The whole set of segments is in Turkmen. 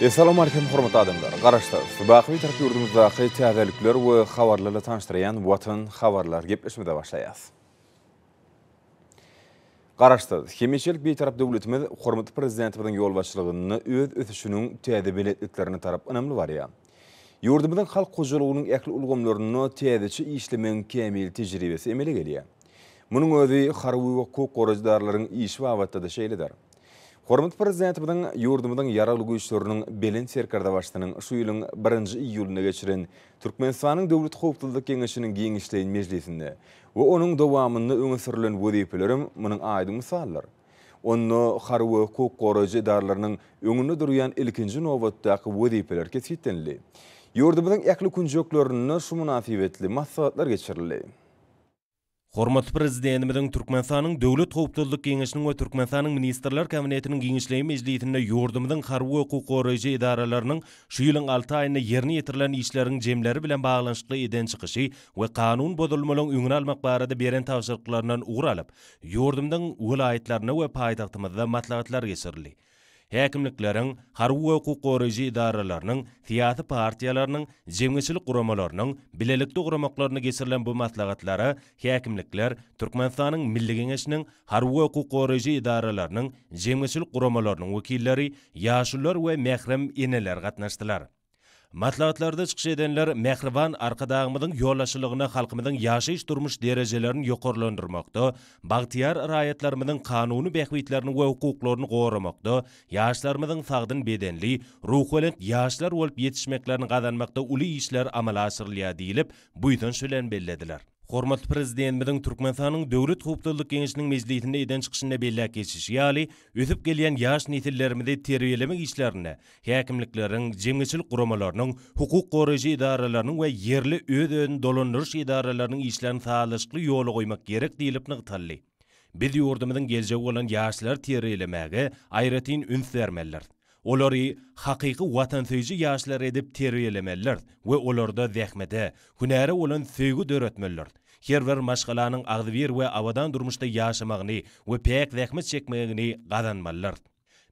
Essalamualeýkum hormatly adamlar! Garaşsyz, baky Bitarap ýurdumyzdaky täzelikler we habarlarla tanyşdyrýan Watan habarlar gepleşmede başlaýas. Garaşsyz, hemişelik Bitarap döwletimiz hormatly Prezidentimiziň ýolbaşçylygynda öz ösüşiniň täze belentliklerine tarap ynamly barýar. Ýurdumyzyň halk hojalygynyň ähli ulgamlarynda täzeçe işlemegiň kämil tejribesi emele gelýär. Munuň özi harby we hukuk goraýjydarlaryň işi babatda-da şeýledir. Hormatly Prezidentimiziň ýurdumyzyň Ýaragly Güýçleriniň Belent Serkerdebaşysynyň şu ýylyň birinji iýulynda geçiren Türkmenistanyň Döwlet howpsuzlyk geňeşiniň giňişleýin mejlisinde we onuň dowamynda öňe sürlen wezipelerem munuň aýdyň mysaldyr. Onda harby we hukuk goraýjy edaralarynyň öňünde durýan ilkinji nobatdaky wezipeler kesgitlenildi. Ýurdumyzyň ähli künjeklerinde şu mynasybetli maslahatlar geçirildi. Hormatly Prezidentimiziň Türkmenistanyň Döwlet howpsuzlyk geňeşiniň we Türkmenistanyň Ministrler Kabinetiniň giňişleýin mejlisinde ýurdumyzyň harby we hukuk goraýjy edaralarynyň şu ýylyň alty aýynda ýerine ýetirilen işleriň jemleri bilen baglanyşykly eden çykyşy we kanun bozulmalaryň öňüni almak barada beren tabşyryklaryndan ugur alyp, ýurdumyzyň welaýatlarynda we paýtagtymyzda maslahatlar geçirildi. Häkimlikleriň, harby we hukuk goraýjy edaralarynyň, syýasy partiýalarynyň, jemgyýetçilik guramalarynyň, bilelikde guramaklarynda geçirilen bu maslahatlara häkimlikler, Türkmenistanyň Milli Geňeşiniň, harby we hukuk goraýjy edaralarynyň, jemgyýetçilik guramalarynyň wekilleri, ýaşulular we mährem eneler gatnaşdylar. Maslahatlarda çykyş edenler mähriban Arkadagymyzyň ýolbaşçylygyna halkymyzyň ýaşaýyş-durmuş derejelerini ýokarlandyrmakda, bagtyýar raýatlarymyzyň kanuny bähbitlerini we hukuklaryny goramakda, ýaşlarymyzyň sagdyn bedenli, ruhubelent ýaşlar bolup ýetişmeklerini gazanmakda uly işler amala aşyrylýar diýlip, buýsanç bilen bellediler. Hormatly Prezidentimiziň Türkmenistanyň Döwlet howpsuzlyk geňeşiniň mejlisinde eden çykyşynda belläp geçişi ýaly, ösüp gelýän ýaş nesillerimizi terbiýelemek işlerinde Häkimlikleriň, jemgyýetçilik guramalarynyň, hukuk goraýjy edaralarynyň we ýerli öz-özüni dolandyryş edaralarynyň işlerini sazlaşykly ýola goýmak gerek diýlip nygtaldy. Biz ýurdumyzyň geljegi bolan ýaşlary terbiýelemäge aýratyn üns bermelidiris. Olary hakyky watansöýüji ýaşlar edip terbiýelemelidiris we olarda zähmete, hünäre bolan söýgi döretmelidiris. Her bir maşgalanyň agzybir we abadan durmuşda ýaşamagyny we päk zähmet çekmegini gazanmalydyrs.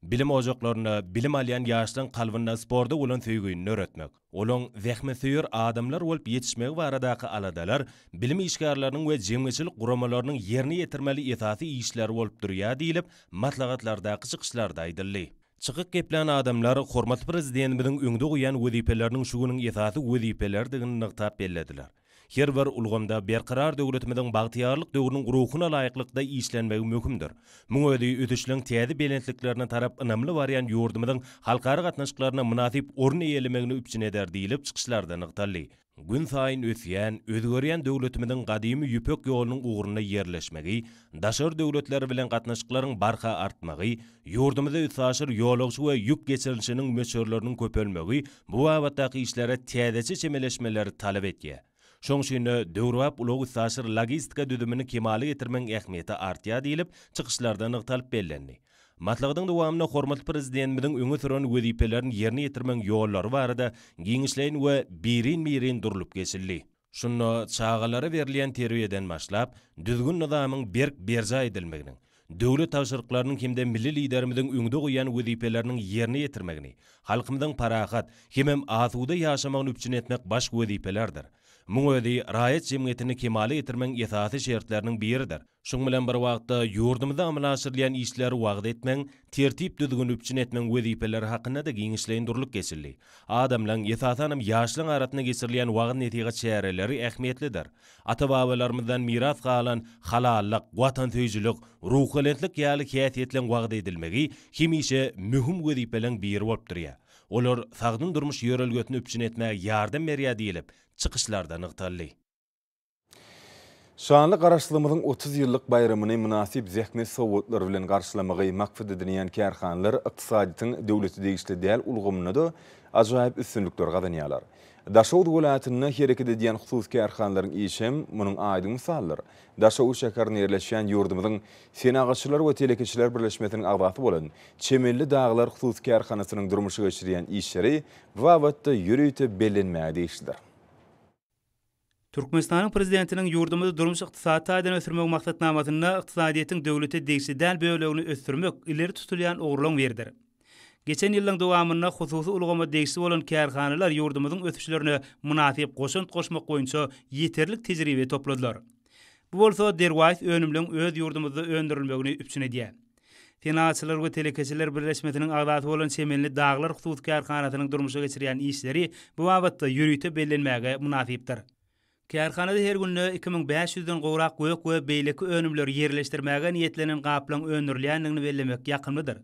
Bilim ojaklarynda bilim alýan ýaşlaryň kalbynda sporta bolan söýgini döretmek, olaň zähmetsöýer adamlar bolup ýetişmegi baradaky aladalar bilim işgärleriniň we jemgyýetçilik guramalarynyň ýerine ýetirmeli esasy işleri bolup durýar diýlip, maslahatlardaky çykyşlarda aýdyldy. Çykyk geplän adamlar hormatly Prezidentimiziň öňde goýan wezipeleriniň şu günüň esasy wezipeleridigini nygtap bellediler. Her bir ulgamda Berkarar döwletimiziň bagtyýarlyk döwrüniň ruhuna laýyklykda işlenmegi möhümdir. Muň özi ösüşleriň täze belentliklerine tarap ynamly barýan ýurdumyzyň halkara gatnaşyklarynda mynasyp orun eýelemegini üpjün eder diýlip, çykyşlarda nygtaldy. Günsaýyn ösýän, özgerýän döwletimiziň gadymy Ýüpek ýolunyň ugrunda ýerleşmegi, daşary döwletler bilen gatnaşyklaryň barha artmagy, ýurdumyza üstaşyr ýolagçy we ýük geçirilişiniň möçberleriniň köpelmegi bu babatdaky işlere täzeçe çemeleşmeleri talap etýär. Şoň üçin-de, döwrebap ulag-üstaşyr logistika düzümini kemala getirmegiň ähmiýeti artýar diýlip, çykyşlarda nygtalyp bellendi. Maslahatyň dowamynda hormatly Prezidentimiziň öňe süren wezipelerini ýerine ýetirmegiň ýollary barada giňişleýin we birin-birin durlup geçildi. Şunda çagalara berilýän terbiýeden başlap, düzgün-nyzamyň berk berjaý edilmeginiň, döwlet tabşyryklarynyň hem-de milli Liderimiziň öňde goýan wezipeleriniň ýerine ýetirmegini, halkymyzyň parahat hemem asuda ýaşamagyny üpjün etmek baş wezipelerdir. Muň özi raýat jemgyýetini kemala getirmegiň esasy şertleriniň biridir. Şunuň bilen bir wagtda, ýurdumyzda amala aşyrylýan işler, wagyz etmegiň tertip-düzgüni üpjün etmegiň wezipeleri hakynda-da giňişleýin durlup geçildi. Adamlaryň, esasanam, ýaşlaryň arasynda geçirilýän wagyz-nesihat çäreleri ähmiýetlidir. Ata-babalarymyzdan miras galan halallyk, watansöýüjilik, ruhubelentlik ýaly häsiýetleriň wagyz edilmegi hemişe möhüm wezipeleriň biri bolup durýar. Olar sagdyn durmuş ýörelgesini üpjün etmäge ýardam berýär diýlip, çykyşlarda nygtaldy. Şanly Garaşsyzlygymyzyň otuz ýyllyk baýramyny mynasyp zähmet sowgatlar bilen garşylamagy maksat edinýän kärhanalar ykdysadyýetiň döwlete degişli däl ulgamynda-da ajaýyp üstünlikleri gazanýarlar. Daşoguz welaýatynda hereket edýän hususy kärhanalaryň işem munuň aýdyň mysalydyr. Daşoguz şäherinde ýerleşýän ýurdumyzyň Senagatçylar we telekeçiler birleşmesiniň agzasy bolan Çemenli dagylar hususy kärhanasynyň durmuşa geçirýän işleri bu babatda ýörite bellenmäge degişlidir. Türkmenistanyň Prezidentiniň ýurdumyzy durmuş-ykdysady taýdan ösdürmegiň maksatnamasynda ykdysadyýetiň döwlete degişli däl bölegini ösdürmek ileri tutulýan ugurlaryň biridir. Geçen ýyllaryň dowamynda hususy ulgama degişli bolan kärhanalar ýurdumyzyň ösüşlerine mynasyp goşant goşmak boýunça ýeterlik tejribe topladylar. Bu bolsa derwaýys önümleň öz ýurdumyzda öndürilmegini üpjün edýär. Senagatçylar we telekeçiler birleşmesiniň agzasy bolan Çemenli daglar hususy kärhanasynyň durmuşa geçirýän işleri bu babatda ýörite bellenmäge mynasypdyr. Kärhanada her günde iki müň bäş ýüzden gowrak gök we beýleki önümleri ýerleşdirmäge niýetlenen gaplaň öndürilýändigini bellemek ýakymlydyr.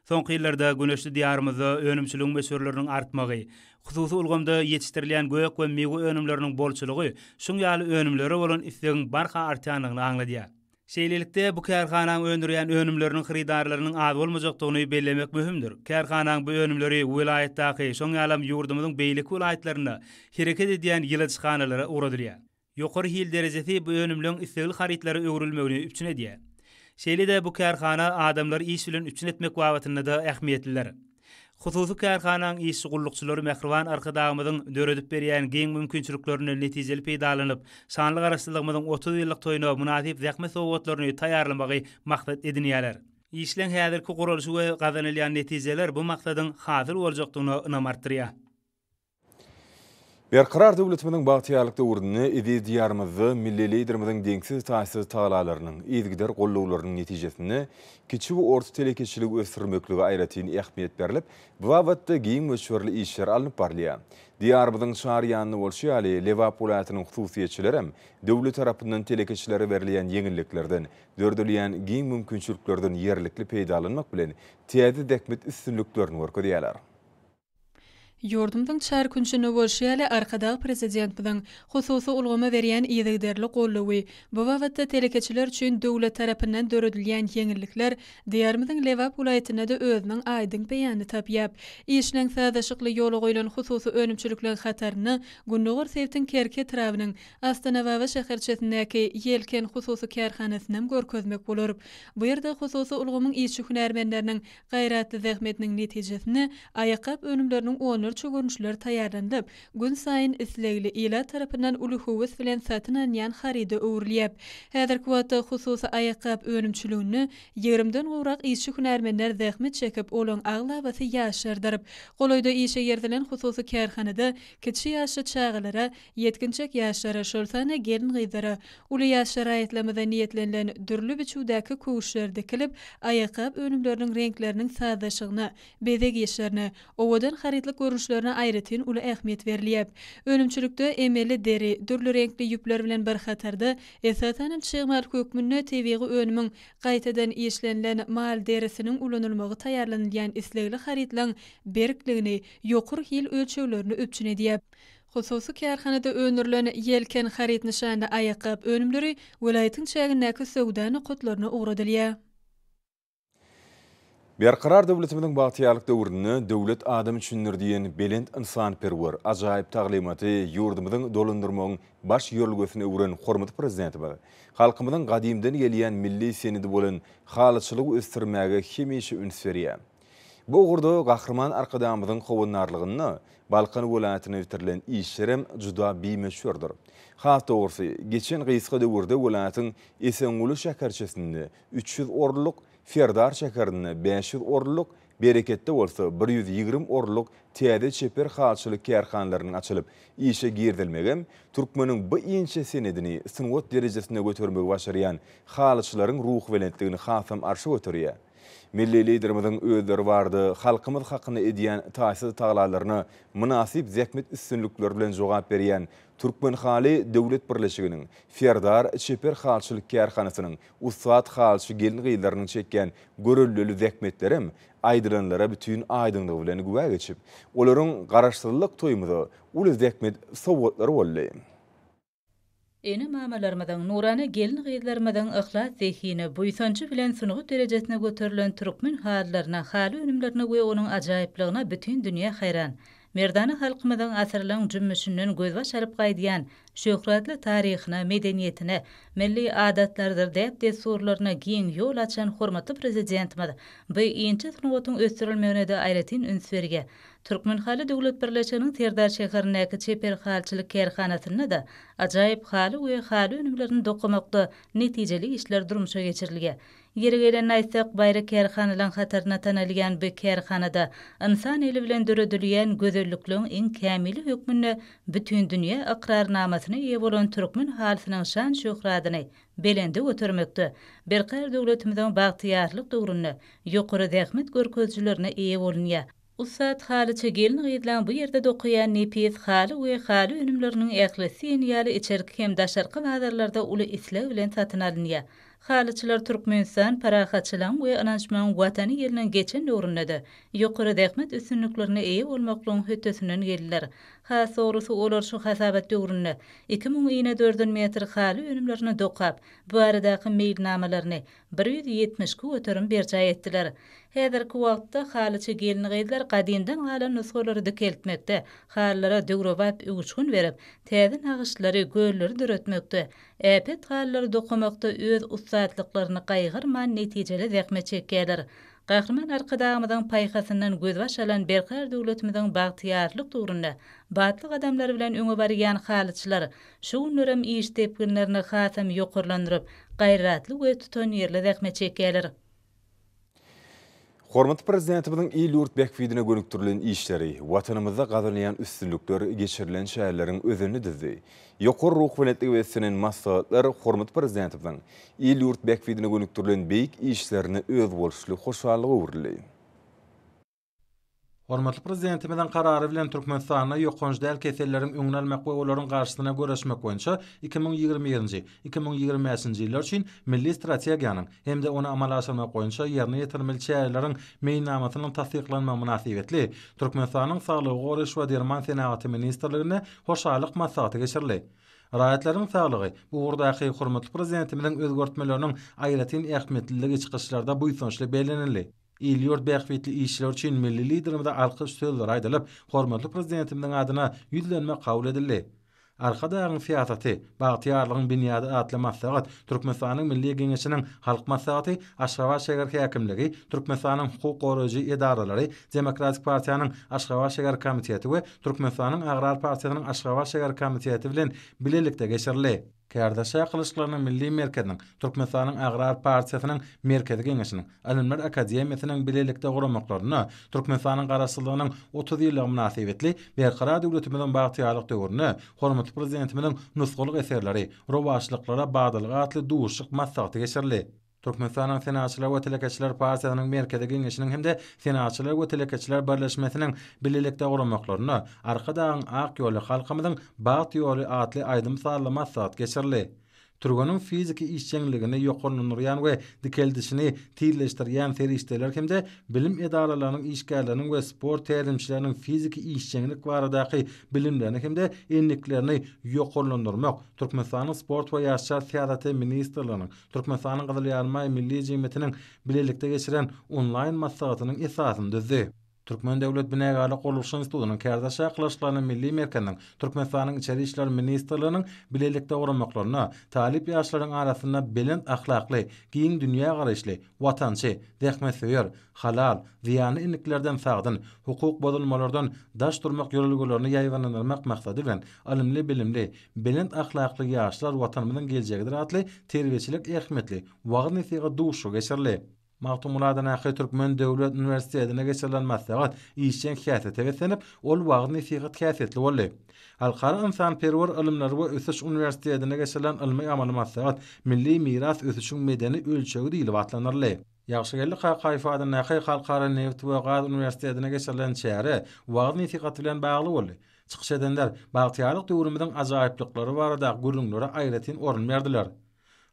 Soňky ýyllarda güneşli Diýarymyzda önümçiligiň möçberleriniň artmagy, hususy ulgamda ýetişdirilýän gök we miwe önümleriniň bolçulygy şuň ýaly önümlere bolan islegiň barha artýandygyny aňladýar. Şeýlelikde, bu kärhanaň öndürýän önümleriniň hyrydarlarynyň az bolmajakdygyny bellemek möhümdir. Kärhanaň bu önümleri welaýatdaky, şoň ýalam ýurdumyzyň beýleki welaýatlarynda hereket edýän ýyladyşhanalara ugradylýar. Ýokary hil derejesi bu önümleň islegli harytlara öwrülmegini üpjün edýär. Şeýle-de bu kärhana adamlary iş bilen üpjün etmek babatynda-da ähmiýetlidir. Hususy kärhanaň işçi gullukçylary mähriban Arkadagymyzyň döredip berýän giň mümkinçiliklerinden netijeli peýdalanyp, şanly Garaşsyzlygymyzyň otuz ýyllyk toýuna mynasyp zähmet sowgatlaryny taýýarlamagy maksat edinýärler. Işleň häzirki guralyşy we gazanylýan netijeler bu maksadyň hasyl boljakdygyna ynam artdyrýar. Berkarar döwletimiziň bagtyýarlyk döwründe eziz Diýarymyzda milli Liderimiziň deňsiz-taýsyz tagallalarynyň, yzygider gollawlarynyň netijesinde kiçi we orta telekeçiligi ösdürmeklige aýratyn ähmiýet berlip, bu babatda giň möçberli işler alnyp barylýar. Diýarymyzyň çar ýanynda bolşy ýaly, Lebap welaýatynyň hususyýetçilerem döwlet tarapyndan telekeçilere berilýän ýeňilliklerden, döredilýän giň mümkinçiliklerden ýerlikli peýdalanmak bilen, täze zähmet üstünliklerini görkezýärler. Ýurdumyzyň çar künjünde bolşy ýaly, Arkadag Prezidentimiziň hususy ulgama berýän yzygiderli goldawy, bu babatda telekeçiler üçin döwlet tarapyndan döredilýän ýeňillikler Diýarymyzyň Lebap welaýatynda-da özüniň aýdyň beýanyny tapýap. Işleň sazlaşykly ýola goýlan hususy önümçilikleriň hatarynda gündogar sebtiň Kerki etrabynyň Astanababa şäherçesindäki Ýelken hususy kärhanasynam görkezmek bolar. Bu ýerde hususy ulgamyň işçi-hünärmenleriniň Gaýratly zähmetiniň netijesinde aýakgap önümleriniň onlarça görnüşleri taýýarlanylyp, günsaýyn islegli ilat tarapyndan uly höwes bilen satyn alynýan haryda öwrülýär. Häzirki wagtda hususy aýakgap önümçiliginde ýigrimden gowrak işçi-hünärmenler zähmet çekip, olaryň aglabasy ýaşlardyr. Golaýda işe girizilen hususy kärhanada kiçi ýaşly çagalara Ýetginjek ýaşlara, şol sanda gelin-gyzlara, uly ýaşly raýatlarymyza niýetlenilen dürli biçüwdäki köwüşler dikilip, aýakgap önümleriniň reňkleriniň sazlaşygyna, bezeg işlerine, owadan harytlyk görnüşlerine aýratyn uly ähmiýet berilýär. Önümçilikde emeli deri, dürli reňkli ýüpler bilen bir hatarda, esasan hem çyg mal hökmünde tebigy önümiň gaýtadan işlenilen mal derisiniň ulanylmagy taýýarlanylýan islegli harytlaryň berkligini, ýokary hil ölçeglerini üpjün edýär. Hususy kärhanada öndürilen Ýelken haryt nyşanly aýakgap önümleri welaýatyň çägindäki söwda nokatlaryna ugradylýar. Berkarar döwletimiziň bagtyýarlyk döwründe Döwlet adam üçindir! diýen belent ynsanperwer, ajaýyp taglymaty ýurdumyzyň dolandyrmagyň baş ýörelgesine öwren hormatly Prezidentimiz halkymyzyň gadymdan gelýän milli senedi bolan halyçylygy ösdürmäge hemişe üns berýär. Bu ugurda Gahryman Arkadagymyzyň howandarlygynda Balkan welaýatynda bitirilen işler hem juda bimöçberdir. Has dogrusy, geçen gysga döwürde welaýatyň Esenguly şäherçesinde üç ýüz orunlyk, Serdar şäherinde bäş ýüz orunlyk, Bereketde bolsa bir ýüz ýigrimi orunlyk täze çeper halçylyk kärhanalarynyň açylyp, işe girizilmegi hem türkmeniň bu inçe senedini sungat derejesine götermegi başarýan halyçylaryň ruhubelentligini hasam arşa göterýär. Milli Liderimiziň özleri barada halkymyz hakynda edýän taýsyz taglalaryna mynasyp zähmet üstünlikleri bilen jogap berýän Türkmen haly döwlet birleşiginiň, Serdar çeper halçylyk kärhanasynyň ussat halçy gelin-gyzlarynyň çekýän göreldeli zähmetlerem aýdylanlara bütin aýdyňlygy bilen güwä geçip, olaryň Garaşsyzlyk toýumyza uly zähmet sowgatlary boldy. Ene-mamalarymyzyň, nurana gelin-gyzlarymyzyň yhlas zehine, buýsanjy bilen sungat derejesine göterilen türkmen halylaryna, haly önümlerine we onuň ajaýyplygyna bütin dünýä haýran. Merdana halkymyzyň asyrlaň jümmüşinden gözbaş alyp gaýdýan şöhratly taryhyna, medeniýetine, milli adatlarydyr däp-dessurlaryna giň ýol açan hormatly Prezidentimiz bu inçe sungatyň ösdürilmegine-de aýratyn üns berýär. Türkmenhaly döwlet birleşiginiň Serdar şäherindäki çeper halyçylyk kärhanasynda-da ajaýyp haly we haly önümlerini dokamakda netijeli işler durmuşa geçirilýär. Ýeri gelende aýtsak, baýry kärhanalaryň hatarynda tanalýan bu kärhanada ynsan eli bilen döredilýän gözellikleň iň kämili hökmünde bütindünýä ykrarnamasyna eýe bolan türkmen halysynyň şan-şöhratyny belende götermekde berkarar döwletimiziň bagtyýarlyk döwründe ýokary zähmet görkezijilerine eýe bolunýar. Ussat halyçy gelin-gyzlaň bu ýerde dokaýan nepis haly we haly önümleriniň ählisi diýen ýaly içerki hem daşarky bazarlarda uly isleg bilen satyn alynýar. Halyçylar Türkmenistan parahatçylygyň we ynanyşmagyň Watany ýylynyn geçen döwründe-de ýokary zähmet üstünliklerine eýe bolmaklygyň hötdesinden geldiler. Has dogrusy, olar şu hasabat döwründe iki müň inedördül metr haly önümlerini dokap, bu baradaky meýilnamalaryny, bir ýüz ýetmiş iki göterim berjaý etdiler. Häzirki wagtda halyçy gelin-gyzlar gadymdan galan nusgalary dikeltmekde, halylara döwrebap öwüşgin berip, täze nagyşlary, gölleri döretmekde, äpet halylary dokamakda öz ussatlyklaryny gaýgyrman netijeli zähmet çekýärler. Gahryman Arkadagymyzyň paýhasyndan gözbaş alan berkarar döwletimiziň bagtyýarlyk döwründe batly gadamlar bilen öňe barýan halyçylar Şu günlerem iş depginlerini hasam ýokarlandyryp, gaýratly we tutanýerli zähmet çekýärler. Hormatly Prezidentimiziň il-ýurt bähbidine gönükdirilen işleri, Watanymyzda gazanylýan üstünlikler geçirilen çäreleriň özenini düzdi. Ýokary ruhubelentlige beslenen maslahatlar hormatly Prezidentimiziň il-ýurt bähbidine gönükdirilen beýik işlerine özboluşly hoşallyga öwrüldi. Hormatly Prezidentimiziň Karary bilen Türkmenistanda ýokanç däl keselleriň öňüni almak we olaryň garşysyna göreşmek boýunça iki müň ýigrimi birinji, iki müň ýigrimi bäşinji ýyllar üçin Milli strategiýanyň hem-de ony amala aşyrmak boýunça ýerine ýetirmeli çäreleriň Meýilnamasynyň tassyklanmagy mynasybetli Türkmenistanyň Saglygy goraýyş we derman senagaty ministrliginde hoşallyk maslahaty geçirildi. Raýatlaryň saglygy bu ugurdaky hormatly Prezidentimiziň özgertmeleriniň aýratyn ähmiýetliligi çykyşlarda buýsançly bellenildi. Il-ýurt bähbitli işleri üçin milli Liderimize alkyş sözleri aýdylyp, hormatly Prezidentimiziň adyna Ýüzlenme kabul edildi. Arkadagyň syýasaty, bagtyýarlygyň binýady atly maslahat Türkmenistanyň Milli Geňeşiniň Halk Maslahaty, Aşgabat şäher häkimligi, Türkmenistanyň hukuk goraýjy edaralary, Demokratik partiýanyň Aşgabat şäher komiteti we Türkmenistanyň Agrar partiýasynyň Aşgabat şäher komiteti bilen bilelikde geçirildi. Kärdeşa gylyçlarynyň milli merkeziniň, Türkmenistanyň Agrar partiýasynyň Merkezi Geňeşiniň, Ylymlar akademiýasynyň bilelikde guramaklarynda Türkmenistanyň Garaşsyzlygynyň otuz ýyllygy mynasybetli Berkarar döwletimiziň bagtyýarlyk döwründe hormatly Prezidentimiziň nusgalyk eserleri, rowaçlyklara badalga atly duşuşyk maslahaty geçirildi. Türkmenistanyň Senagatçylar we telekeçiler partiýasynyň Merkezi Geňeşiniň hem-de Senagatçylar we telekeçiler birleşmesiniň bilelikde guramaklarynda Arkadagyň ak ýoly, halkymyzyň bagt ýoly atly aýdym sazly maslahat geçirildi. Türgeniň fiziki işjeňligini ýokarlandyrýan we dikeldişini tizleşdirýän serişdeler hem-de bilim edaralarynyň işgärleriniň we sport tälimçileriniň fiziki işjeňlik baradaky bilimlerini hem-de endiklerini ýokarlandyrmak Türkmenistanyň Sport we ýaşlar syýasaty ministrliginiň Türkmenistanyň Gyzyl Ýarymaý Milli jemgyýetiniň bilelikde geçiren onlaýn maslahatynyň esasyny düzdi. Türkmen döwlet binägarlyk gurluşyk institutynyň kärdeş çakylyşyklarynyň milli merkeziniň Türkmenistanyň Içeri işler ministrliginiň bilelikde guramaklarynda talyp ýaşlaryň arasynda belent ahlakly, giň dünýägaraýyşly, watançy, zähmetsöýer, halal, zyýanly endiklerden sagdyn, hukuk bozulmalardan daş durmak ýörelgelerini ýaýbaňlandyrmak maksady bilen ylymly-bilimli, Belent ahlakly ýaşlar Watanymyzyň geljegidir atly terbiýeçilik ähmiýetli wagyz-nesihat duşuşygy geçirildi. Magtymguladanaky Türkmen döwlet uniwersitetinde geçirilen maslahat işjeň häsiýete beslenip, ol wagyz-nesihat häsiýetli boldy. Halkara ynsanperwer ylymlar we ösüş uniwersitetinde geçirilen ylmy-amaly maslahat Milli miras ösüşiň medeni ölçegi diýlip atlandyryldy. Ýagşygeldi Kakaýew adyndaky Halkara nebit we gaz uniwersitetinde geçirilen çäre wagyz-nesihat bilen bagly boldy. Çykyş edenler bagtyýarlyk döwrümiziň ajaýyplyklary barada gürrüňlere aýratyn orun berdiler.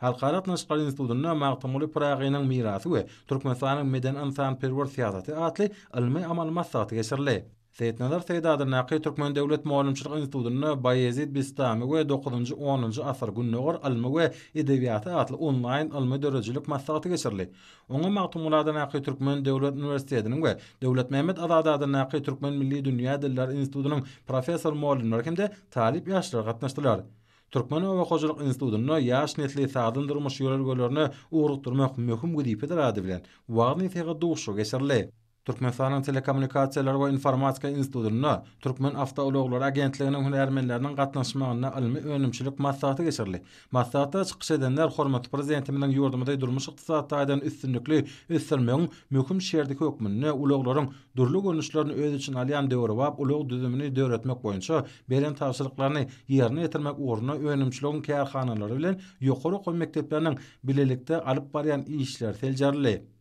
Halkara gatnaşyklary institutynda Magtymguly Pyragynyň mirasy we Türkmenistanyň medeni-ynsanperwer syýasaty atly ylmy-amaly maslahaty geçirildi. Seýitnazar Seýdi adyndaky Türkmen döwlet mugallymçylyk institutynda Baýezit Bistami we dokuzynjy-onunjy asyr Gündogar ylmy we edebiýaty atly onlaýn ylmy-döredijilik maslahaty geçirildi. Oňa Magtymguly adyndaky Türkmen döwlet uniwersitetiniň we Döwletmämmet Azady adyndaky Türkmen milli dünýä diller institutynyň professor-mugallymlary hem-de talyp ýaşlar gatnaşdylar. Türkmen oba hojalyk institutynda ýaş nesli sagdyn durmuş ýörelgelerine ugrukdyrmak möhüm wezipedir ady bilen wagyz-nesihat duşuşygy geçirildi. Türkmenistanyň Telekommunikasiýalar we informatika institutynda Türkmenawtoulaglary agentliginiň hünärmenleriniň gatnaşmagynda ylmy-önümçilik maslahaty geçirildi. Maslahatda çykyş edenler hormatly Prezidentimiziň ýurdumyzy durmuş-ykdysady taýdan üstünlikli ösdürmegiň möhüm şerti hökmünde ulaglaryň dürli görnüşlerini öz içine alýan döwrebap ulag düzümini döretmek boýunça beren tabşyryklaryny ýerine ýetirmek ugrunda önümçiligiň kärhanalary bilen ýokary okuw mekdepleriniň bilelikde alyp barýan işleri seljerildi.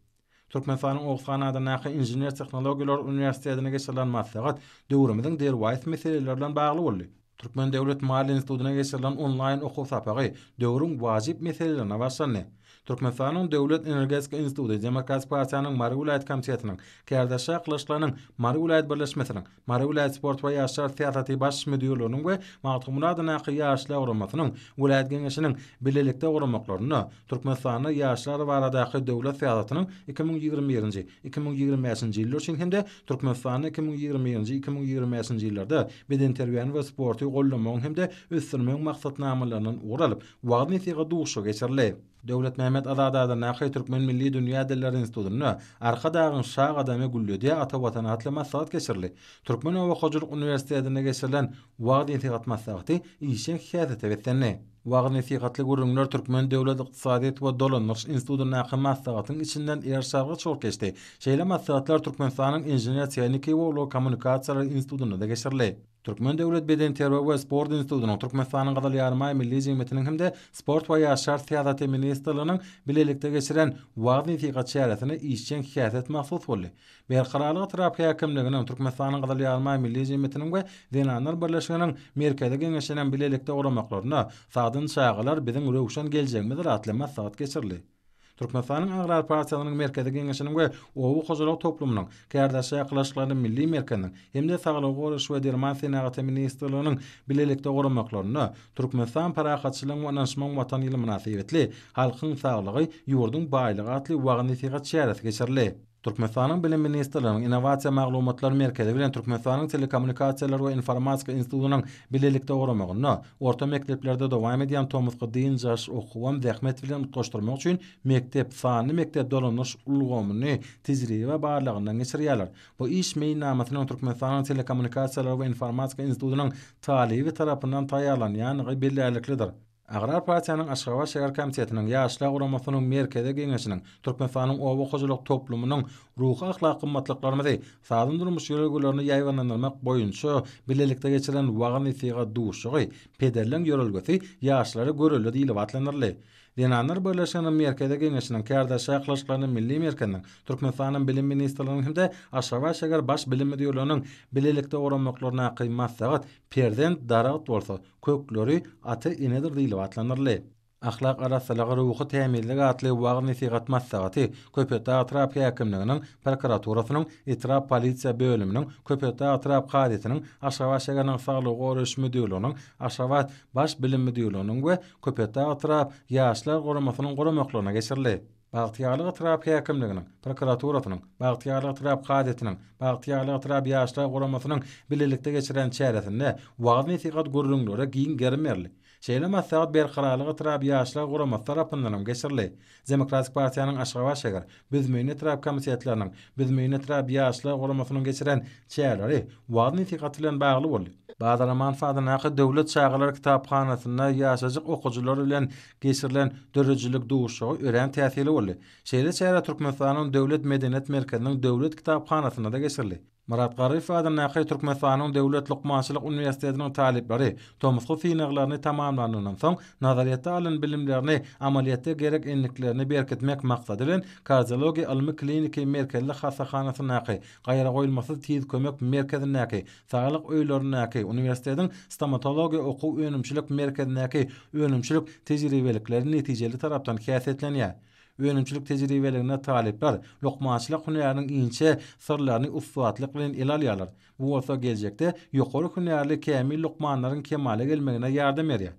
Türkmenistanyň Oguzhan adyndaky Inžener-tehnologiýalar uniwersitetinde geçirilen maslahat döwrümiziň derwaýys meseleleri bilen bagly boldy. Türkmen döwlet maliýe institutyna geçirilen onlaýn okuw sapagy döwrüň wajyp meselelerine bagşlandy. Türkmenistanyň Döwlet energetika instituty Demokratik partiýanyň Mary welaýat komitetiniň, Kärdaşşa Kylyçlynyň Mary welaýat birleşmesiniň, Mary welaýat sport we ýaşlar syýasaty baş müdirliginiň we Magtymguly adyndaky Ýaşlar guramasynyň welaýat geňeşiniň bilelikde guramaklarynda Türkmenistanda ýaşlar baradaky döwlet syýasatynyň iki müň ýigrimi birinji, iki müň ýigrimi bäşinji ýyllar üçin hem-de Türkmenistanda iki müň ýigrimi birinji, iki müň ýigrimi bäşinji ýyllarda bedenterbiýäni we sporty goldamagyň hem-de ösdürmegiň maksatnamalaryndan ugur alyp, wagyz-nesihat duşuşygy geçirildi. Döwletmämmet Azadada Nakaý Türkmen milli dünýä dilleri institutynda Arkadagyň şa gadamy gülledýä ata Watan atly maslahat geçirildi. Türkmen oba hojalyk uniwersitetinde geçirilen wagyz-nesihat maslahaty işjeň syýasete beslendi. Wagyz-nesihatly gürrüňler Türkmen döwlet ykdysadyýet we dolandyryş institutyndaky maslahatyň içinden er çaga çort geçdi. Şeýle maslahatlar Türkmenistanyň Inžener-tehniki we ulag kommunikasiýalary institutynda-da geçirildi. Türkmen döwlet bedenterbiýe we sport institutynyň, Türkmenistanyň Gyzyl Ýarymaý Milli jemgyýetiniň hem-de Sport we ýaşlar syýasaty ministrliginiň bilelikde geçiren wagyz-nesihat çäresine işjeň häsiýet mahsus boldy. Berkararlyk etrap häkimliginiň, Türkmenistanyň Gyzyl Ýarymaý Milli jemgyýetiniň we Zenanlar birleşiginiň Merkezi geňeşiniň bilelikde guramaklarynda Sagdyn çagalar, biziň röwşen geljegimizdir atly maslahat geçirildi. Türkmenistanyň Agrar partiýasynyň Merkezi Geňeşiniň we Oba hojalyk toplumynyň kärdeşi ýakylaşyklaryny Milli merkeziniň hem-de Saglygy goraýyş we derman senagaty ministrliginiň bilelikde guramaklarynda Türkmenistan Parahatçylygyň we ynanyşmagyň Watany ýyly mynasybetli Halkyň saglygy, ýurduň baýlygy atly wagyz-nesihat çäresi geçirildi. Türkmenistanyň Bilim ministrliginiň Innowasiýa maglumatlar merkezi bilen Türkmenistanyň Telekommunikasiýalar we informatika institutynyň bilelikde guramagynda orta mekdeplerde dowam edýän tomusky dynç alyş okuwam zähmet bilen utgaşdyrmak üçin mekdep sanly mekdep dolandyryş ulgamyny tejribe barlagyndan geçirýärler. Bu iş meýilnamasynyň Türkmenistanyň Telekommunikasiýalar we informatika institutynyň talyby tarapyndan taýýarlanýandygy bellärliklidir. Agrar partiýanyň Aşgabat şäher komitetiniň, Ýaşlar guramasynyň Merkezi geňeşiniň, Türkmenistanyň oba hojalyk toplumynyň ruhy-ahlak gymmatlyklarymyzy, sazan-durmuş ýörelgelerini ýaýbaňlandyrmak boýunça bilelikde geçirilen wagyz-nesihat duşuşygy Pederleň ýörelgesi ýaşlara görelde diýlip atlandyryldy. Zenanlar birleşiginiň Merkezi geňeşiniň, Kärdeş çakylyşyklarynyň milli merkeziniň, Türkmenistanyň Bilim ministrliginiň hem-de Aşgabat şäher Baş bilim müdirliginiň bilelikde guranmaklaryndaky maslahat Perzent daragt bolsa, Kökleri ata-enedir diýlip atlandyryldy. Ahlak arassalygy, ruhy tämizlik atly wagyz-nesihat maslahaty Köpetdag etrap häkimliginiň prokuraturasynyň etrap polisiýa bölüminiň, Köpetdag etrap kazysynyň, Aşgabat şäheriniň saglygy goraýyş müdirliginiň, Aşgabat Baş bilim müdirliginiň we Köpetdag etrap Ýaşlar guramasynyň guramaklaryna geçirildi. Bagtyýarlyk etrap häkimliginiň, prokuraturasynyň, Bagtyýarlyk etrap kazyýetiniň, Bagtyýarlyk etrap ýaşlar guramasynyň bilelikde geçiren çäresinde wagyz-nesihat gürrüňleri giň gerim berli. Şeýle maslahat Berkararlyk etrap ýaşlar guramasy tarapyndanam geçirli. Demokratik partiýanyň Aşgabat şäher, Büzmeýin etrap komitetleriniň, Büzmeýin etrap ýaşlar guramasynyň geçiren çäreleri wagyz-nesihat bilen bagly boldy. Bazaraman sadyndaky Döwlet çagalar kitaphanasynda ýaşajyk okyjylar bilen geçirilen döredijilik duşuşygy örän täsirli boldy. Şeýle çäre Türkmenistanyň Döwlet medeniýet merkeziniň Döwlet kitaphanasynda-da geçirildi. Myrat Garryýew adyndaky Türkmenistanyň Döwlet lukmançylyk uniwersitetiniň talyplary tomusky synaglaryny tamamlanyndan soň nazaryýetde alan bilimlerini amalyýetde gerek endiklerini berkitmek maksady bilen Kardiologiýa ylmy-kliniki merkezli hassahanasyndaky Gaýragoýulmasyz tiz kömek merkezindäki Saglyk öýlerindäki, uniwersitetiň Stomatologiýa okuw-önümçilik merkezindäki önümçilik tejribelikleri netijeli tarapdan häsiýetlenýär. Önümçilik tejribeliginde talyplar lukmançylyk hünäriniň inçe syrlaryny ussatlyk bilen ele alýarlar, bu bolsa geljekde ýokary hünärli kämil lukmanlaryň kemala gelmegine ýardam berýär.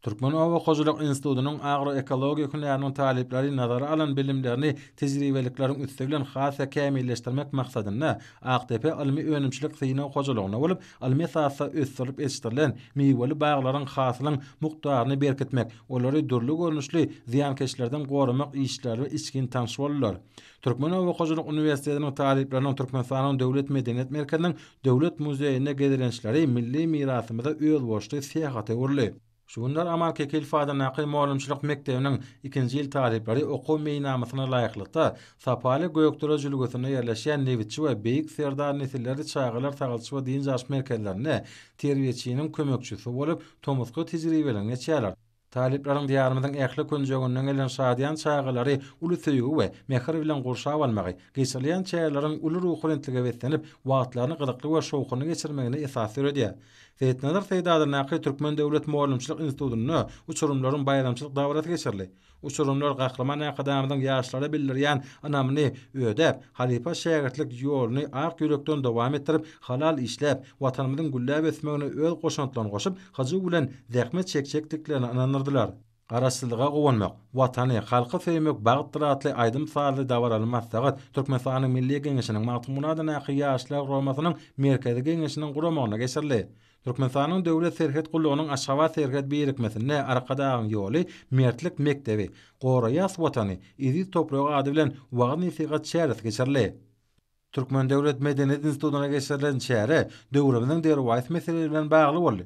Türkmen oba hojalyk institutynyň agroekologiýa hünäriniň talyplary nazara alan bilimlerini tejribelikleriň üsti bilen has-da kämilleşdirmek maksadynda Akdepe ylmy-önümçilik synag hojalygynda bolup, ylmy esasda ösdürilip ýetişdirilen miweli baglaryň hasylyň mukdaryny berkitmek, olary dürli görnüşli zyýankeşlerden goramak işleri içgin tanyş boldular. Türkmen oba hojalyk uniwersitetiniň talyplarynyň Türkmenistanyň Döwlet medeniýet merkeziniň Döwlet muzeýinde gezelençleri milli mirasymyza özboluşly syýahata öwrüldi. Şu günler Amal Kekilf adyndaky mugallymçylyk mekdebiniň ikinji ýyl talyplary okuw meýilnamasyna laýyklykda, Sapaly Gökdere jülgesinde ýerleşýän Nebitçi we Beýik Serdar Nesilleri çagalar tagalç we dynç alyş merkezlerinde terbiýeçiniň kömekçisi bolup, tomusky tejribelerini geçýärler. Talyplaryň Diýarymyzyň ähli künjeginden gelen şadyýan çagalary uly söýgi we mähir bilen gurşap almagy, geçirilýän çäreleriň uly ruhubelentlige beslenip, wagtlaryny gyzykly we şowhunly geçirmegine esas döredýär. Seýitnazar Seýdadandaky Türkmen döwlet mugallymçylyk institutynda uçurymlaryň baýramçylyk dabarasy geçirildi. Uçurymlar Gahryman Arkadagymyzyň ýaşlara bildirýän ynamyny ödäp, Halypa-şägirtlik ýoluny ak ýürekden dowam etdirip, halal işläp, Watanymyzyň gülläp ösmegine öz goşantlaryny goşup, hyjuw bilen zähmet çekjekdiklerine ynandyrdylar. Garaşsyzlyga guwanmak, Watany, halky söýmek bagtdyr atly aýdym-sazly dabaraly maslahat Türkmenistanyň Milli Geňeşiniň Magtymgunadandaky Ýaşlar guramasynyň Merkezi Geňeşiniň guramagyna geçirildi. Türkmenistanyň Döwlet serhet gullugynyň Aşgabat serhet birikmesinde Arkadagyň ýoly, Mertlik mekdebi, Goraýas Watany, eziz topragy ady bilen wagyz-nesihat çäresi geçirildi. Türkmen döwlet medeniýet institutyna geçirilen çäre döwrümiziň derwaýys meseleleri bilen bagly boldy.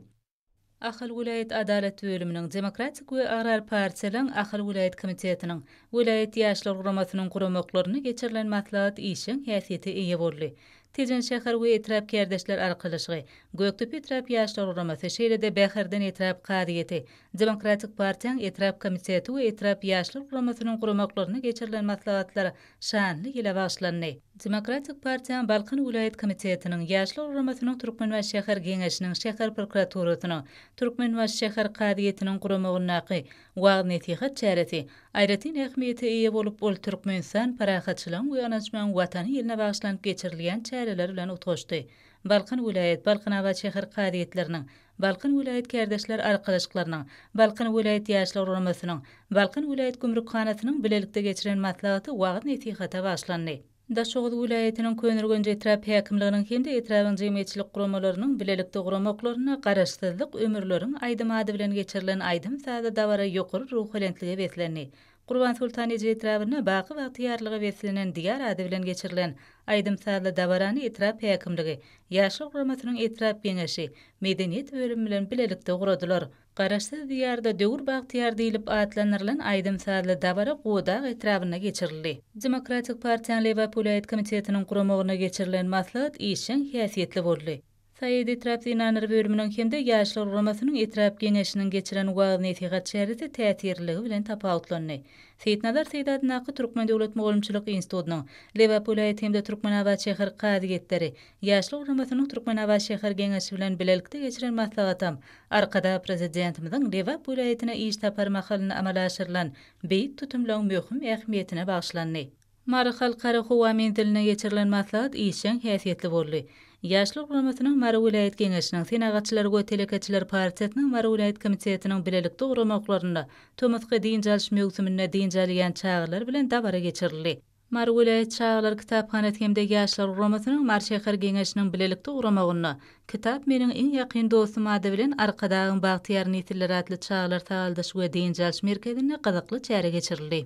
Ahal welaýat Adalat bölüminiň, Demokratik we Agrar partiýalaryň Ahal welaýat komitetiniň, welaýat Ýaşlar guramasynyň guramaklarynda geçirilen maslahat işjeň häsiýete eýe boldy. Tejen şäher we etrap kärdeşler arkalaşygy, Gökdepe etrap ýaşlar guramasy, şeýle-de Bäherden etrap kazyýeti, Demokratik partiýaň etrap komiteti we etrap ýaşlar guramasynyň guramaklarynda geçirilen maslahatlar şanly ýyla bagyşlandy. Demokratik partiýaň Balkan welaýat komitetiniň, ýaşlar guramasynyň Türkmenbaşy şäher geňeşiniň, şäher prokuraturasynyň, Türkmenbaşy şäher kazyýetiniň guramagyndaky Wagyz-nesihat çäresi aýratyn ähmiýete eýe bolup, ol Türkmenistan parahatçylygyň we ynançmagyň Watany ýylyna bagyşlanyp geçirilýän çäreler bilen utgaşdy. Balkan welaýat, Balkanabat şäher kazyýetleriniň, Balkan welaýat kärdeşler arkalaşyklarynyň, Balkan welaýat ýaşlar guramasynyň, Balkan welaýat gümrükhanasynyň bilelikde geçiren maslahaty wagyz-nesihata bagyşlandy. Daşoguz welaýatynyň Köneürgenç etrap häkimliginiň hem-de etrabyň jemgyýetçilik guramalarynyň bilelikde guramaklarynda Garaşsyzlyk ömürleriň aýdymy ady bilen geçirilen aýdym-sazly dabara ýokary ruhubelentlige beslendi. Gurbansoltan eje etrabynda baky bagtyýarlyga beslenen Diýar ady bilen geçirilen aýdym-sazly dabarany etrap häkimligi, Ýaşlar guramasynyň etrap Geňeşi, Medeniýet bölümi bilen bilelikde guradylar. Garaşsyz Diýarda döwür bagtyýar diýlip atlandyrylan aýdym-sazly dabara Godag etrabynda geçirildi. Demokratik partiýanyň Lebap welaýat komitetiniň guramagynda geçirilen maslahat işjeň häsiýetli boldy. Saýat etrap zenanlar bölüminiň hem-de Ýaşlar guramasynyň etrap Geňeşiniň geçiren wagyz-nesihat çäresi täsirliligi bilen tapawutlandy. Seýitnazar Seýit adyndaky Türkmen döwlet mugallymçylyk institutynyň, Lebap welaýat hem-de Türkmenabat şäher kazyýetleri, Ýaşlar guramasynyň Türkmenabat şäher Geňeşi bilen bilelikde geçiren maslahatam Arkadag Prezidentimiziň Lebap welaýatyna iş sapary mahalynda amala aşyrylan beýik tutumlaryň möhüm ähmiýetine bagyşlandy. Mary Halkara howa menzilinde geçirilen maslahat işjeň häsiýetli boldy. Ýaşlar guramasynyň Mary welaýat Geňeşiniň, Senagatçylar we telekeçiler partiýasynyň Mary welaýat komitetiniň bilelikde guramoklarynda tomusky dynç alyş möwsüminde dynç alýan çagalar bilen dabara geçirildi. Mary welaýat çagalar kitaphanasy hem-de Ýaşlar guramasynyň Mary şäher Geňeşiniň bilelikde guramagynda Kitap meniň iň ýakyn dostum ady bilen Arkadagyň bagtyýar nesilleri atly çagalar sagaldyş we dynç alyş merkezinde gyzykly çäre geçirildi.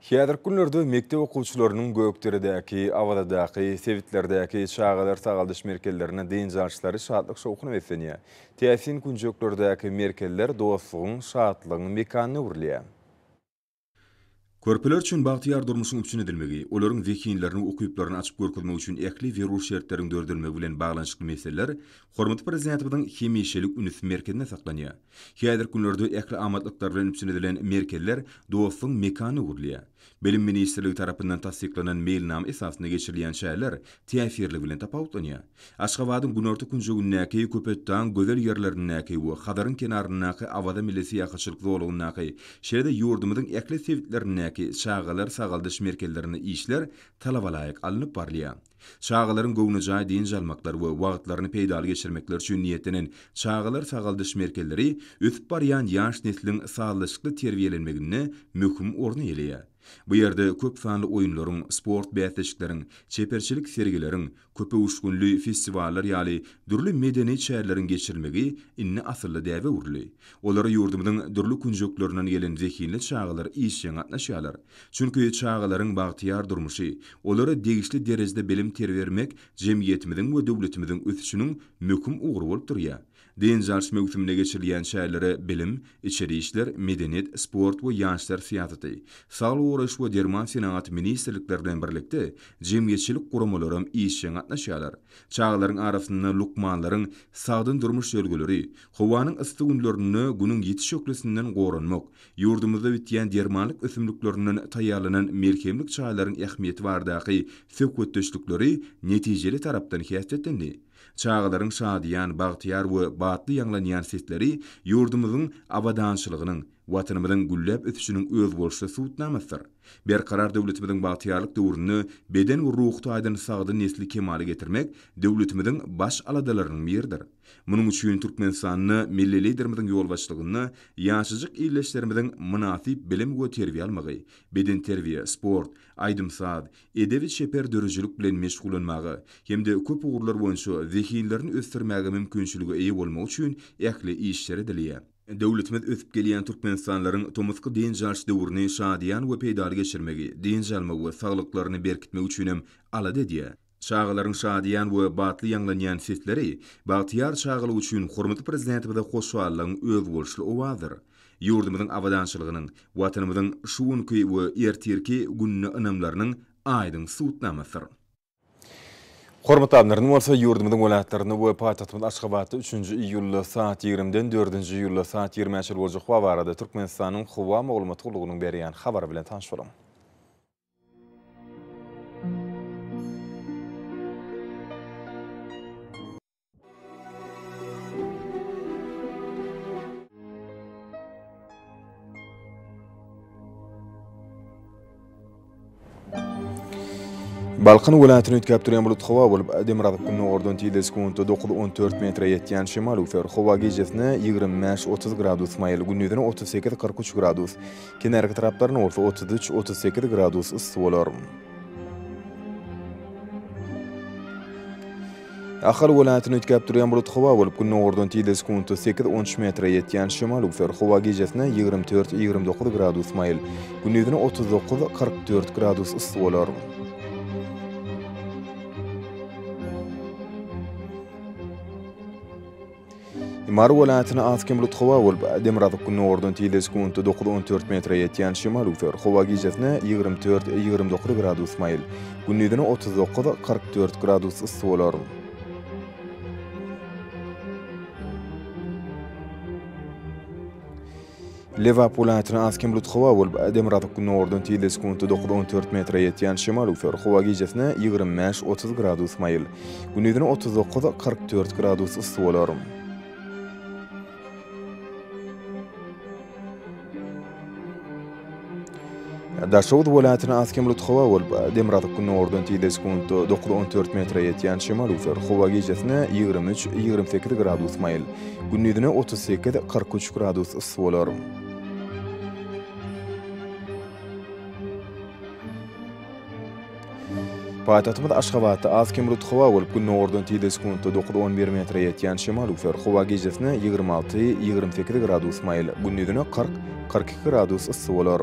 Häzirki günlerde mekdep okuwçylarynyň Gökderedäki, Awazadaky, sebitlerdäki çagalar sagaldyş merkezlerinde dynç alyşlary şatlyk-şowhuna beslenýär. Täsin künjeklerdäki merkezler dostlugyň, şatlygyň mekanyna öwrülýär. Körpeler üçin bagtyýar durmuşyň üpjün edilmegi, olaryň zehinlerini we ukyplaryny açyp görkezmek üçin ähli zerur şertleriň döredilmegi bilen baglanyşykly meseleler hormatly Prezidentimiziň hemişelik ünsi merkezinde saklanýar. Häzirki günlerde ähli amatlyklar bilen üpjün edilen merkezler Dostuň mekanyna öwrülýär. Bilim ministrligi tarapyndan tassyklanan meýilnama esasynda geçirilýän çäreler täsirligi bilen tapawutlanýar. Aşgabadyň günorta künjegindäki Köpetdagyň gözel ýerlerindäki we Hazaryň kenaryndaky Awaza milli syýahatçylyk zolagyndaky, şeýle-de ýurdumyzyň ähli sebitlerindäki çagalar sagaldyş merkezlerinde işler talabalaýyk alnyp barylýar. Çagalaryň göwnejaý dynç almaklary we wagtlaryny peýdaly geçirmekleri üçin niýetlenen çagalar sagaldyş merkezleri ösüp barýan ýaş nesliň sazlaşykly terbiýelenmeginde möhüm orny eýeleýär. Bu ýerde köp sanly oýunlaryň, sport bäsleşikleriň, çeperçilik sergileriň, Köpöwüşginli festiwallar ýaly dürli medeni çäreleriň geçirilmegi indi asylly däbe öwrüldi. Olara ýurdumyzyň dürli künjeklerinden gelen zehinli çagalar işjeň gatnaşýarlar. Çünki çagalaryň bagtyýar durmuşy, olara degişli derejede bilim-terbiýe bermek jemgyýetimiziň we döwletimiziň ösüşiniň möhüm ugry bolup durýar. Dynç alyş möwsümine geçirilýän çärelere bilim, içeri işler, medeniýet, sport we ýaşlar syýasaty, saglygy goraýyş we derman senagaty ministrlikleri bilen birlikde jemgyýetçilik guramalaram işjeň gatnaşýarlar. Çagalaryň arasynda lukmanlaryň sagdyn durmuş ýörelgeleri, howanyň yssy günlerinde Günüň ýiti şöhlesinden goranmak, ýurdumyzda bitýän dermanlyk ösümliklerinden taýýarlanan melhemlik çaýlaryň ähmiýeti baradaky söhbetdeşlikleri netijeli tarapdan häsiýetlendi. Çagalaryň şadyýan, bagtyýar we batly ýaňlanýan sesleri ýurdumyzyň abadançylygynyň, Watanymyzyň gülläp ösüşiniň özboluşly subutnamasydyr. Berkarar döwletimiziň bagtyýarlyk döwründe beden we ruhy taýdan sagdyn nesli kemala getirmek döwletimiziň baş aladalarynyň biridir. Munuň üçin Türkmenistanda Milli Liderimiziň ýolbaşçylygynda ýaşajyk ildeşlerimiziň mynasyp bilim we terbiýe almagy, bedenterbiýe, sport, aýdym-saz, edebi-çeper döredijilik bilen meşgullanmaga hem-de köp ugurlar boýunça zehinlerini ösdürmäge mümkinçilige eýe bolmagy üçin ähli işler edilýär. Döwletimiz ösüp gelýän türkmenistanlaryň tomusky dynç alyş döwrüni şadyýan we peýdaly geçirmegi, dynç almagy we saglyklaryny berkitmegi üçin hem alada edýär. Çagalaryň şadyýan we batly ýaňlanýan sesleri bagtyýar çagalyk üçin hormatly Prezidentimize hoşallygyň özboluşly owazydyr. ýurdumyzyň abadançylygynyň, Watanymyzyň şu günki we ertirki gününe ynamlarynyň aýdyň subutnamasydyr. Hormatly Adlerimiz bolsa ýurdumyzyň welaýatlarynda we paýtagtymyz Aşgabatda üçünji iýulda saat ýigrimiden dördünji iýulda saat ýigrimä çenli boljak howa barada Türkmenistanyň howa maglumat gullugynyň berýän habary bilen tanyş boluň. Balkan welaýatyny üýtgäp durýan bulut howa bolup, demirgazyk gündogardan tizde sekuntda dokuz on dört metre ýetýän şemal öwser. Howa gijesine ýigrimi bäş otuz gradus maýyl, gündizine otuz sekiz kyrk üç gradus, kenarki taraplarynda bolsa otuz üç otuz sekiz gradus yssy bolar. Ahal welaýatyny üýtgäp durýan bulut howa bolup, gündogardan tizligi sekuntda sekiz, on üç metre ýetýän şemal öwser. Howa gijesine ýigrimi dört, ýigrimi dokuz gradus maýyl, gündizine otuz dokuz, kyrk dört gradus yssy bolar. Mary welaýatyna az-kem bulut howa bolup, demirgazyk gündogardan tizligi sekuntda dokuz-on dört metre ýetýän şemal öwser. Howa gijesine ýigrimi dört-ýigrimi dokuz gradus maýyl, gündizine otuz dokuz-kyrk dört gradus yssy bolar. Lebap welaýatyna az kem bulut howa bolup, demirgazyk gündogardan tizde sekuntda dokuz, on dört metre ýetýän şemal üwser. Howa gijesine ýigrimi bäş, otuz gradus maýyl. Gündizine otuz dokuz, kyrk dört gradus yssy bolar. Daşoguz welaýatyna az kem bulut howa bolup, demirgazyk gündogardan tizde sekuntda dokuz on dört metre ýetýän şemal üwser. Howa gijesine ýigrimi üç, ýigrimi sekiz gradus maýyl, gündizine otuz sekiz, kyrk üç gradus yssy bolar. Paýtagtymyz Aşgabatda az kem rut howa bolup, gündogardan tizde sekuntda dokuz on bir metre ýetýän şemal üwser. Howa gijesine ýigrimi alty, ýigrimi sekiz gradus maýyl, gündizine kyrk, kyrk iki gradus yssy bolar.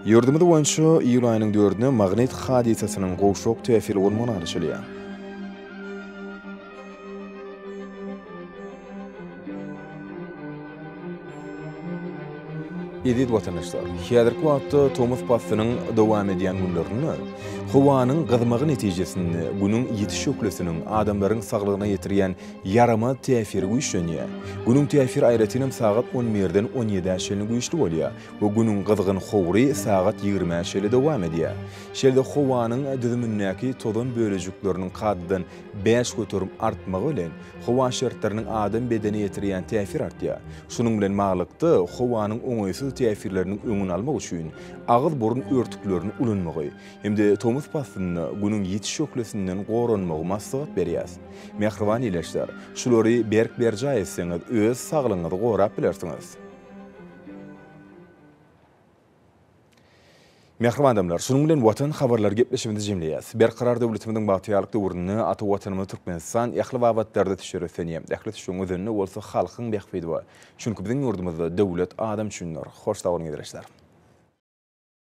Ýurdumyz boýunça iýul aýynyň dördüne magnit hadysasynyň gowşak täsiri bolmagyny garaşylýar. Eziz watandaşlar, häzirki wagtda tomus paslynyň dowam edýän günlerinde howanyň gyzmagy netijesinde Günüň ýitiş şöhlesiniň adamlaryň saglygyna ýetirýän ýaramaz täsiri güýçlenýär. Günüň täsiri aýratynam sagat on birden on ýedä çenli güýçli bolýar we Günüň gyzgyn howry sagat ýigrimä çenli dowam edýär. Şeýle-de howanyň düzümindäki tozan bölejikleriniň kadadan Bäş göterim artmagy bilen, howa şertleriniň adam bedenine ýetirýän täsiri artýar. Şunuň bilen baglylykda, howanyň oňaýsyz täsirleriniň öňüni almak üçin agyz-burun örtüklerini ulanmagy hem-de tomus paslynda Günüň ýiti şöhlesinden goranmagy maslahat berýäs. Mähriban ildeşler, şulary berk berjaý etseňiz, öz saglygyňyzy gorap bilersiňiz. Mähriban adamlar, şunuň bilen Watan habarlary gepleşigimizi jemleýäs. Berkarar döwletimiziň bagtyýarlyk döwründe ata Watanymyz Türkmenistan ähli babatlarda teşerrüflenýär. Ähli tüşüň özende bolsa halkyň bähbidi bar. Çünki biziň ýurdumyzda döwlet adam üçindir. Hoş sag boluň ildeşler.